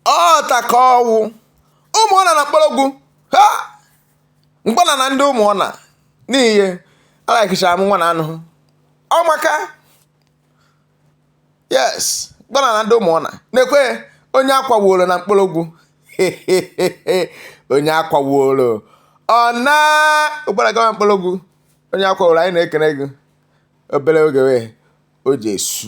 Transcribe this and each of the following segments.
ọta ka ọ wụ ụmụọna na nkpologwu ha mkpọna na ndị ụmụọna n'ihe alakichara m nwa na anụ ọ maka yes mkpọna na ndị ụmụọna na-ekwe onye akwaworo na nkpologwu onye akwaworo ọ na ụgbara gawa nkpologwu onye akwaworo anyị na-ekene gị obere oge wee o ji esu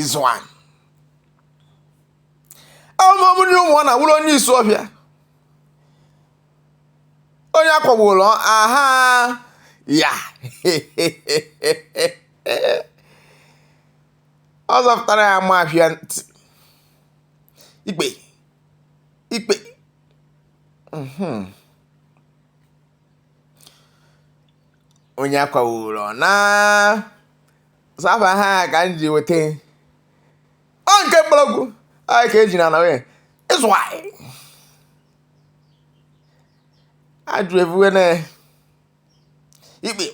ịzụ anyị ahụmahụ ndị ụmụọna wụrụ onye isuofia onye akwagburu aha ya ọ zọpụtara ya mafia ntị ikpe ikpe mhm. onye akwaworo na saba ha ka m ji weta ọ nke nkpologwu anyị ka eji na na nwunye ịzụ anyị ajụ ebuwe na ikpe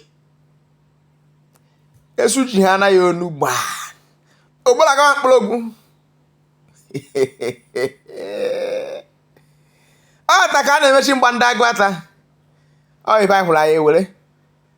esu ji ha anaghị onu gbaa ogbara gawa nkpologwu ọ ta ka a na-emechi mgba ndị aguata ọ ibe anyị hụrụ anyị ewere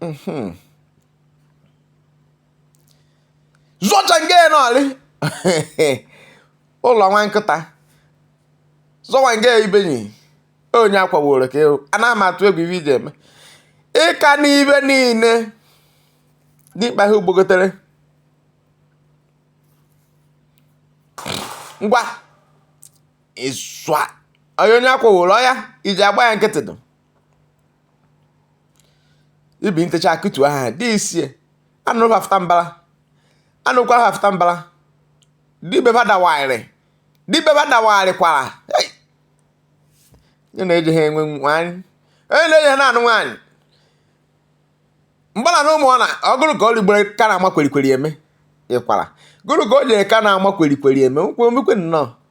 mhm. zọcha nke nọrị ụlọ nwa nkịta zọwa nke ibenyi onye akwaworo ka ewu a na-ama atụ egwu ibe iji eme ịka n'ibe niile dịkpa ha ugbogotere ngwa ịswa onye onye akwaworo ọya iji agba ya nkịtị dụ ibi ntecha akụtu aha dị isie anụ hafụta mbara anụ kwara hafụta mbara dibe ba dawagharị dibe ba dawagharị kwara onye na-eji ha enwe nwaanyị onye na-eji ha na-anụ nwaanyị mgbana na ụmụọna ọgụrụ ka ọ rigbere ka na-ama kwerikweri eme ịkwara gụrụ ka o jere ka na-ama kwerikweri eme nkwomikwe nnọọ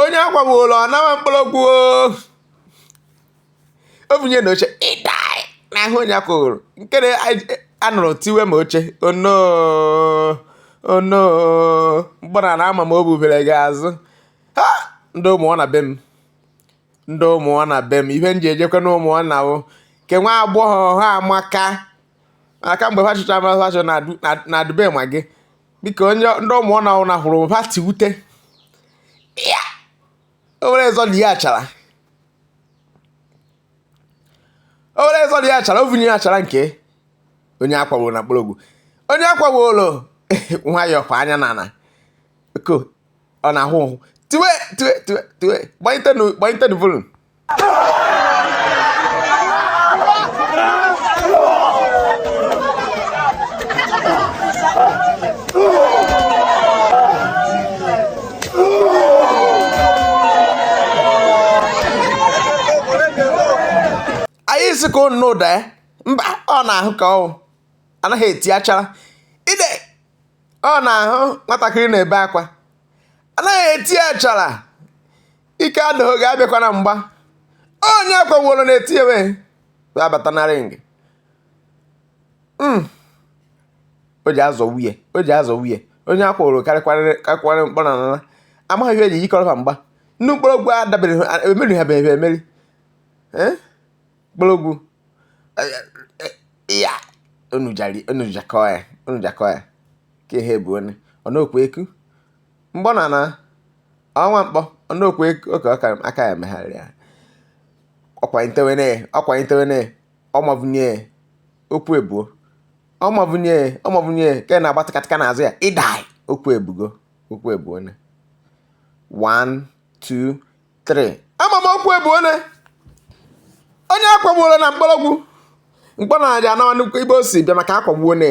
onye akwaworo ọ nawa nkpologwu o bunye na oche ịda n'ahụ onye akwụghụrụ nke na anụrụ tiwe ma oche ono ono mgbana na ama m o bubere gị azụ ha ndị ụmụọna be m ndị ụmụọna be m ihe m ji ejekwa na ụmụọna bụ nke nwa agbọghọ ha amaka aka mgbe ha chụchara mara ha na adube ma gị biko onye ndị ụmụ na ụna hụrụ ha ti wute owere ezọ dị ya achara owere ezọ dị ya achara ovunye ya achara nke onye akwagbo na mkpọrọgwụ onye akwagbo ụlọ nwayọọ kwa anya n'ala ko ọ na-ahụ tiwe tiwe tiwe tiwe gbanyite nu volum anyị sị ka a nụ ụda ya mba ọ na-ahụ ka ọ anaghị eti achara ide ọ na-ahụ nwatakịrị na-ebe akwa anaghị eti achara ike adịghị gị abịakwana mgba onye kweworo na etinyewe wee abata na ring hmm. o ji azọ nwunye o ji azọ nwunye onye a kwụrụ karịkwara mkpọ na nana amaghị ihe eji yikọrọ ha mgba ndị mkpọrọgwụ adabeghị emeri ha beghị emeri mkpọrọgwụ ya unu jakọọ ya unu jakọọ ya ka ihe bụ onye ọ na-okwu eku mgbọ na na ọnwa mkpọ ọnụokwu oke aka ya megharịrị ya ọkwanyitewene ọkwanyitewene ọmavunye okwu ebuo ọmavunye ọmavunye ka na-agba tịkatịka n'azụ ya ịdai okwu ebugo okwu ebuo ne 1 2 3 ama m okwu ebuo ne onye akwagbuola na mkpọrọgwụ mkpọ na aja anawa nnukwu ibe o si bịa maka akwagbuo ne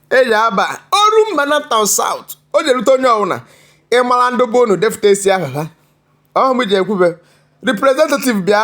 eji aba Orumba North and South o je-erute onye ọbụla ịmara ndị bụ unu defụtasịa aha ha ọhụ m ji ekwube representative bịa